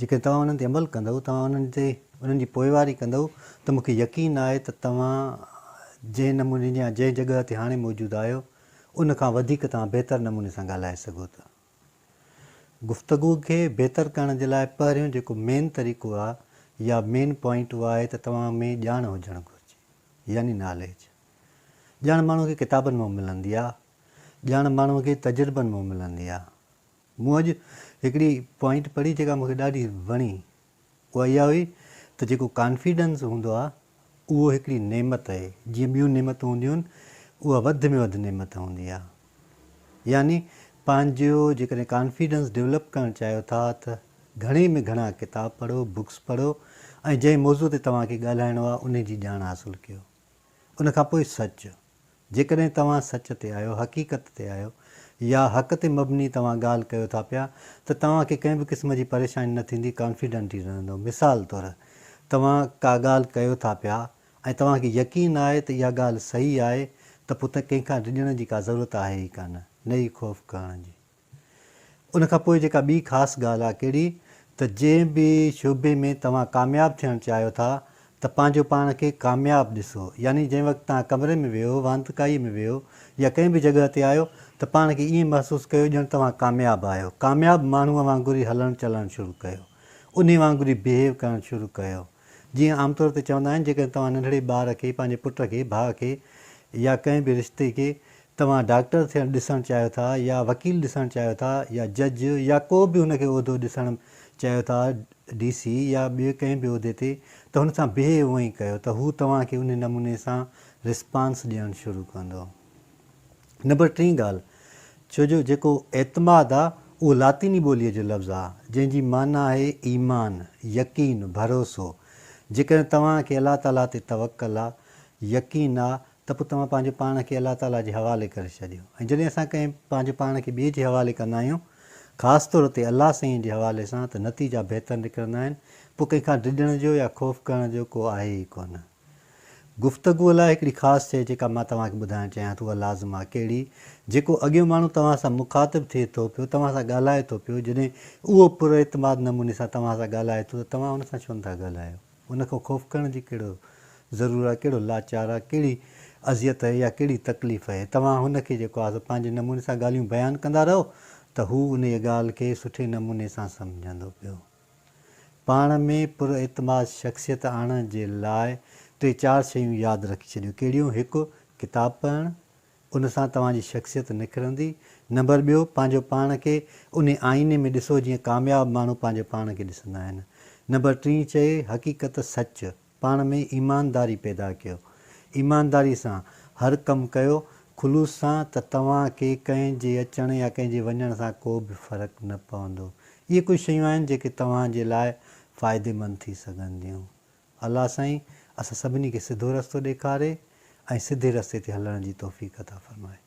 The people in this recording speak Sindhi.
جيڪڏهن توهان انهن تي عمل ڪندؤ، توهان انهن تي انهن جي پوئواري ڪندؤ ته مون کي يقين آهي ته توهان جنهن نموني يا جنهن جڳهه تي هاڻي موجود آهيو، ان کان وڌيڪ توهان بهتر نموني سان ڳالهائي سگهو ٿا. گفتگو کي بهتر ڪرڻ جي لاء پهريون جيڪو مين طريقو آهي يا مين پوائنٽ اهو آهي ته توهان ۾ ڄاڻ هجڻ گهرجي يعني ناليج. ڄاڻ ماڻهو کي ڪتابن مان ملندي آهي، ڄاڻ ماڻهو کي تجربن مان ملندي آهي، مون اڄ هڪڙي پوائنٽ پڙهي جيڪا مون کي ڏاڍي وڻي اها اها هئي ته جيڪو ڪانفيڊنس هوندو آهي اهو هڪڙي نعمت اهي جيئن ٻيون نعمتون هونديون آهن اها وڌ ۾ وڌ نعمت هوندي آهي يعني پنهنجو جيڪڏهن ڪانفيڊنس ڊولپ ڪرڻ چاهيو ٿا ته گهڻي ۾ گهڻا ڪتاب پڙهو بڪس پڙهو ۽ جنهن موضوع تي توهان کي ڳالهائڻو آهي انهي جي ڄاڻ حاصل ڪيو. ان کان پوء سچ. جيڪڏهن توهان سچ تي آهيو، حقيقت تي آهيو يا حق تي مبني توهان ڳالهه ڪيو ٿا پيا ته توهان کي ڪنهن به قسم جي پريشاني نه ٿيندي، ڪانفيڊنٽي رهندو. مثال طور توهان ڪا ڳالهه ڪيو ٿا پيا ۽ توهان کي يقين آهي ته اها ڳالهه صحيح آهي ته پوء ته ڪنهن کان ڊڄڻ جي ڪا ضرورت آهي ئي ڪانه، نه ئي خوف ڪرڻ جي. ان کان پوء جيڪا ٻي خاص ڳالهه آ ڪهڙي ته جنهن به شعبي ۾ توهان ڪامياب ٿيڻ چاهيو ٿا ته پنهنجو پاڻ کي ڪامياب ڏسو يعني جنهن وقت توهان ڪمري ۾ ويهو واندڪائي ۾ ويهو يا ڪنهن به جڳهه تي آهيو ته پاڻ کي ائين محسوس ڪيو ڄڻ توهان ڪامياب آهيو ڪامياب ماڻهو وانگر ئي هلڻ چلڻ شروع ڪيو انهي وانگر ئي بيهيو ڪرڻ شروع ڪيو جيئن عام طور تي چوندا آهن جيڪڏهن توهان ننڍڙي ٻار کي، پنهنجي پٽ کي، ڀاء کي يا ڪنهن به رشتي کي توهان ڊاڪٽر ٿيڻ ڏسڻ چاهيو ٿا يا وڪيل ڏسڻ چاهيو ٿا يا جج يا ڪو به هن کي عهدو ڏسڻ چاهيو ٿا ڊي سي يا ٻئي ڪنهن به عهدي تي ته هن سان بيهي اونئي ڪيو ته هو توهان کي انهي نموني سان رسپانس ڏيڻ شروع ڪندو. نمبر ٽين ڳالهه، ڇو جو جيڪو اعتماد آ، اهو لاطيني ٻوليء جو لفظ آ، جنهن جي معنيٰ آهي ايمان، يقين، ڀروسو. جيڪڏهن توهان کي الله تعاليٰ تي توڪل آ، يقين آ، ته پوء توهان پنهنجو پاڻ کي الله تعاليٰ جي حوالي ڪري ڇڏيو. ۽ جڏهن اسان ڪنهن پنهنجو پاڻ کي ٻئي جي حوالي ڪندا آهيون، خاص طور تي الله سائين جي حوالي سان، ته نتيجا بهتر نڪرندا آهن، پوء ڪنهن کان ڊڄڻ جو يا خوف ڪرڻ جو ڪو آهي ئي ڪونه. گفتگوء لاء هڪڙي خاص شيء جيڪا مان توهان کي ٻڌائڻ چاهيان ٿو اها لازم آهي ڪهڙي؟ جيڪو اڳيون ماڻهو توهان سان مخاطب ٿئي ٿو پيو، توهان سان ڳالهائي ٿو پيو، جڏهن اهو پر اعتماد نموني سان توهان سان ڳالهائي ٿو ته توهان ان سان ڇو نه ٿا ڳالهايو؟ ان کان خوف ڪرڻ جي ڪهڙو ضرور آهي، ڪهڙو لاچار آهي، ڪهڙي اذيت اهي يا ڪهڙي تڪليف اهي؟ توهان هن کي جيڪو آهي سو پنهنجي نموني سان ڳالهيون بيان ڪندا رهو ته هو انهيء ڳالهه کي سٺي نموني سان سمجهندو پيو. پاڻ ۾ پر اعتماد شخصيت آڻڻ جي لاء ٽي چار شيون ياد رکي ڇڏيو ڪهڙيون هڪ ڪتاب پڙهڻ ان سان توهان جي شخصيت نکرندي نمبر ٻيو پنهنجو پاڻ کي انهي آئيني ۾ ڏسو جيئن ڪامياب ماڻهو پنهنجي پاڻ کي ڏسندا آهن نمبر ٽين چئي حقيقت سچ پاڻ ۾ ايمانداري پيدا ڪيو. ايمانداري سان هر ڪم ڪيو، خلوص سان ته توهان کي ڪنهن جي اچڻ يا ڪنهن جي وڃڻ سان ڪو به فرق نه پوندو. اهي ڪجهه شيون آهن جيڪي توهان جي لاء فائديمند ٿي سگهنديون. الله سائين اسان سڀني کي سڌو رستو ڏيکاري ۽ سڌي رستي تي هلڻ جي توفيق عطا فرمائي.